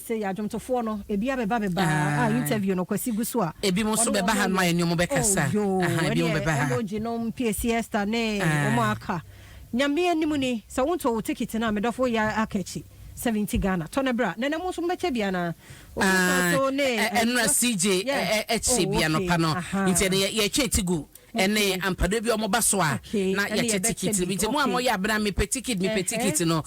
Sɛ yɛ adwomtofoɔ no ebi abɛba bɛba ah interview no kwasi gu so a ebi mo nso bɛba ha no ayɛ nea ɔmo bɛkasa aha ebi mo bɛba ha. Emoji nom piesie Esther ne ɔmo aka nyame anim ni sɛ wo ntɔ wo ticket no a me dɔfo woyɛ aka akyi seventy Ghana tɔ no bra nana mo nso mo bɛkyɛ bi anaa obi nso ne ɛnora CJ ɛkyɛ bi anɔpa no nti ɛnɛ yɛtwa ti gu ɛne ampadɔ bi a wɔba so a na yɛkyɛ tikiti bi nti mo a moyɛ abena mepɛ tikiti mepɛ tikiti no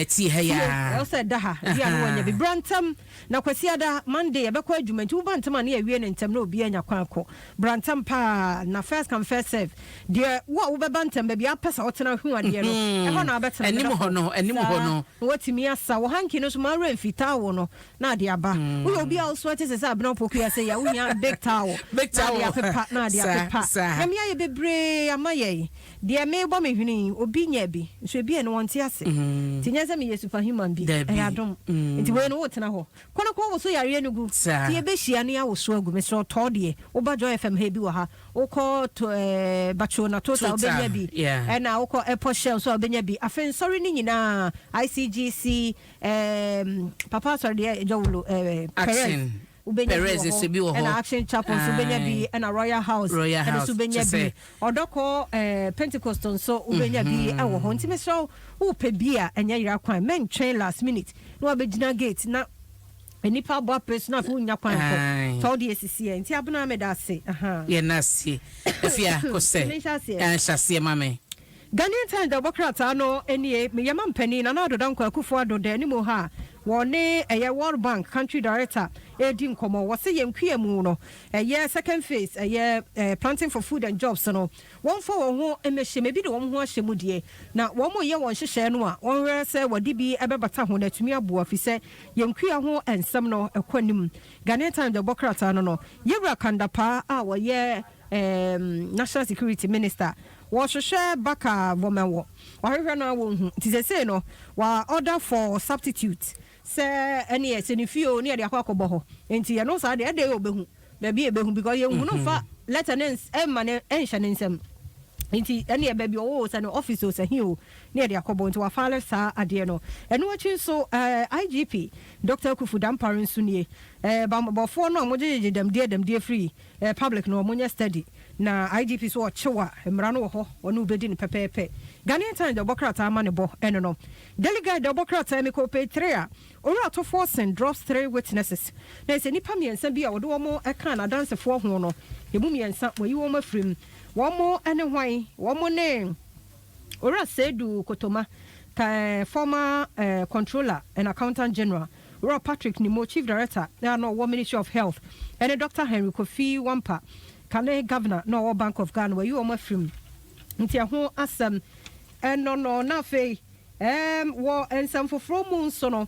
tie ha yia. ɛwɔ sɛ ɛda ha ebi a no wɔnyɛ bi bra ntɛm na kwasiada monday yɛbɛkɔ adwuma nti woba ntɛm a ne yɛawie no ntɛm na obi anya kwan akɔ bra ntɛm paa na first come first serve deɛ wo a wobɛba ntɛm baabi a wopɛ sɛ wotena hu adeɛ no ɛhɔ na wobɛtena anim hɔ no anim hɔ no na watumi asa wɔ hanki no so ma remfi taa wo no na ade aba. Woyɛ obi a wo so te sɛ sɛ abena opoku yi a, sɛ yɛ a wohia big towel Big na ade towel apepa, na ade Saa, apepa. saa. Nyame ayɛ bebree ama yɛn. Deɛ merebɔ me hwene yi, obi nya bi, nso ebi a ɛno wɔnte ase. Nti ɛnyɛ sɛ meyɛ super human bi, Dabi. ɛyɛ adom. Nti wei no wotena hɔ. Kɔ na kɔ woso yareɛ no gu. Saa. Nti yɛbɛhyia na yɛawoso agu. Mesrɛ wo tɔ deɛ. Woba Joy FM ha, ebi wɔ ha. Wokɔ to, ɛɛ, Batrona Total a, Total, wobɛnya bi. yeah. Ɛna wokɔ Airport Shell nso a, wobɛnya bi. Afei nsɔre no nyinaa, ICGC, Ɛɛm papa asɔre deɛ ɛgya wo lo ɛɛ Perez wobɛnya bi wɔ hɔ ɛna Action Chapel nso wobɛnya bi ɛna Royal House ɛno nso wobɛnya bi ɔdɔkɔ ɛɛ Pentecost nso wobɛnya bi mhm. ɛwɔ hɔ nti mesrɛ wo wopɛ bi a ɛnyɛ yera kwan mɛntwɛn last minute na wabɛgyina gate na nnipa abɔ apere so na afei wonya kwan kɔ fa wode asisiɛ nti abena meda ase yɛna aseɛ afei akɔ sɛ hyɛ aseɛ ma me Ghanaian Times de ɛbɔ krataa no nie, Yɛn mampanin Nana Addo Dankwa Akufo-Addo da anim ha a wɔne ɛyɛ World Bank Country Director redi nkɔmmɔ. Wɔse yɛn nkuamu no, ɛyɛ second phase ɛyɛ Planting for Food and Jobs no, wɔmfa wɔn ho mmɛhyɛm, ebi de wɔn ho ahyɛ mu deɛ, na wɔreyɛ wɔn nhyehyɛɛ no a, wɔnhwɛ sɛ wɔde bi bɛbata ho na atumi aboa, fisɛ yɛn nkua ho nsɛm no ɛkɔ anim. Ghanaian Times de ɛbɔ krataa no no, Yɛwura Kandapaa a ɔyɛ National Security Minister Wɔhwehwɛ baka wɔmɛ wɔ. Wɔahwehwɛ no a wɔnhu. Nti sesei no wa order for substitute sɛ ɛneɛ sɛ ne fie o ne yɛde akɔ akɔbɔ hɔ. Nti yɛno saa deɛ ɛdɛɛ ɔbɛhu baabi a ɛbɛhu because yɛnhu no mfa letter no mma no nhyɛ ne nsam. Nti ɛneɛ baabi ɔwɔ o sɛ ne office o sɛ he o ne yɛde akɔbɔ. Nti wa file saa adeɛ no. Ɛno akyi nso eh IGP Doctor Akuffo Dampare nso nie. Eh bammɔbɔfoɔ no a wɔgyegyegye dɛmdeɛ dɛmdeɛ firi Eh public no ɔmo nyɛ study na IGP so ɔkyew a mmara no wɔ hɔ ɔne wo bedi no pɛpɛɛpɛ. Ghanaian Times de ɔbɔ krataa ma ne bɔ ɛno no. Daily Guide de ɔbɔ krataa mi kɔɔ page three a Owura Tofoɔsen drops three witnesses na ɛsɛ nipa miɛnsa bi a ɔde wɔn ɛkaa n'adansefoɔ ho no emu miɛnsa wayi wɔn afiri mu. Wɔn ɛne hwan? Wɔn ne Owura Seidu Kotoma, ka eh former eh Controller and Accountant General. Rob Patrick Nimmo, Chief Director a na ɔwɔ Ministry of Health, ɛne Doctor Henry Kofi Wampah, kane Governor na ɔwɔ Bank of Ghana, wɔayi wɔn afiri mu. Nti ɛho asɛm ɛno no. Na afei ɛɛm wɔ nsɛm foforɔ mu nso no,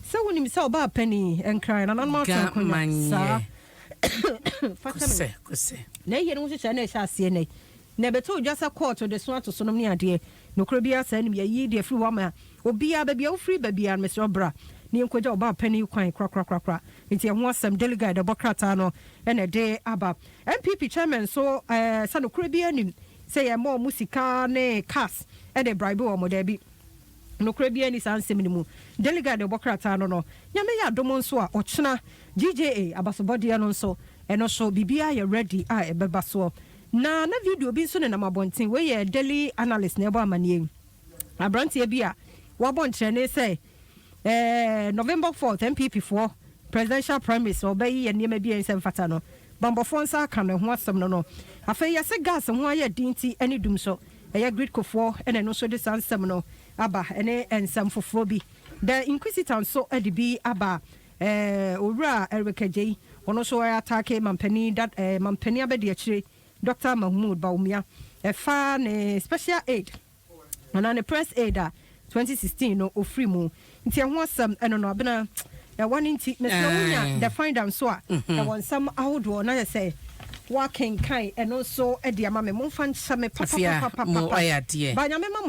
sɛ wonim sɛ ɔbaa panin nkran, nananom atwe nkonya saa, fa kyɛ me, na ɛyɛ no ho nhyehyɛe na ɛhyɛ aseɛ nnɛ yi. Na ɛbɛtoo dwa sɛ kɔɔto de so atosonom ne adeɛ. Nokorɛ biara saa nim yɛ yii deɛ firi hɔ ama obiara, baabi a wofiri ba biara no, mesrɛ wo bra ne yɛnkɔgya wo ba panin kwan korakorakorakora. Nti ɛho asɛm, Daily Guide ɛbɔ krataa no na ɛde aba. NPP Chairman nso sɛ nokorɛ biara nim sɛ yɛma wɔn sika ne cars de bribe wɔn, daabi, nokorɛ biara nni saa nsɛm no mu. Daily Guide ɛbɔ krataa no no. Nyame yɛ adom nso a, ɔkyena GJA abasobɔdeɛ no nso, ɛno nso biribiara yɛ ready a ɛbɛba soɔ. Na na video bi nso nenam abɔnten. Wei yɛ Daily Analyst na ɛbɔ amanneɛ yi. Aberanteɛ bi a wabɔ nkyerɛnne sɛ eh, November fourth NPP foɔ presidential primaries no ɔbɛ yi yɛ nneɛma bi a ɛnsɛ mfata no. Bammɔfoɔ nsa aka no ɛho asɛm no no. Afei yɛse gas ho ayɛ den nti ɛne dum so. Ɛyɛ Gridco foɔ na ɛno nso de saa nsɛm no aba ɛne nsɛm foforɔ bi. The Inquisitor nso de bi aba. Eh, Owura Eric Adjei, ɔno nso ɛ ataake Mampanin da eh, Mampanin Abadiakyire, Doctor Mahmood Bawumia, ɛfa ne special aid anaa ne press aid a 2016 no ɔfiri mu. Nti ɛho asɛm, ɛno no, Abena, ɛwa no nti, mesrɛ wo nya The Finder nso a, ɛwɔ nsɛm ahodoɔ na yɛ sɛ woakenkan ɛno nso de ama me. Momfa nkyɛ me Afia, mo papapapapapa. ayɛ adeɛ. Ba Nyame ma mo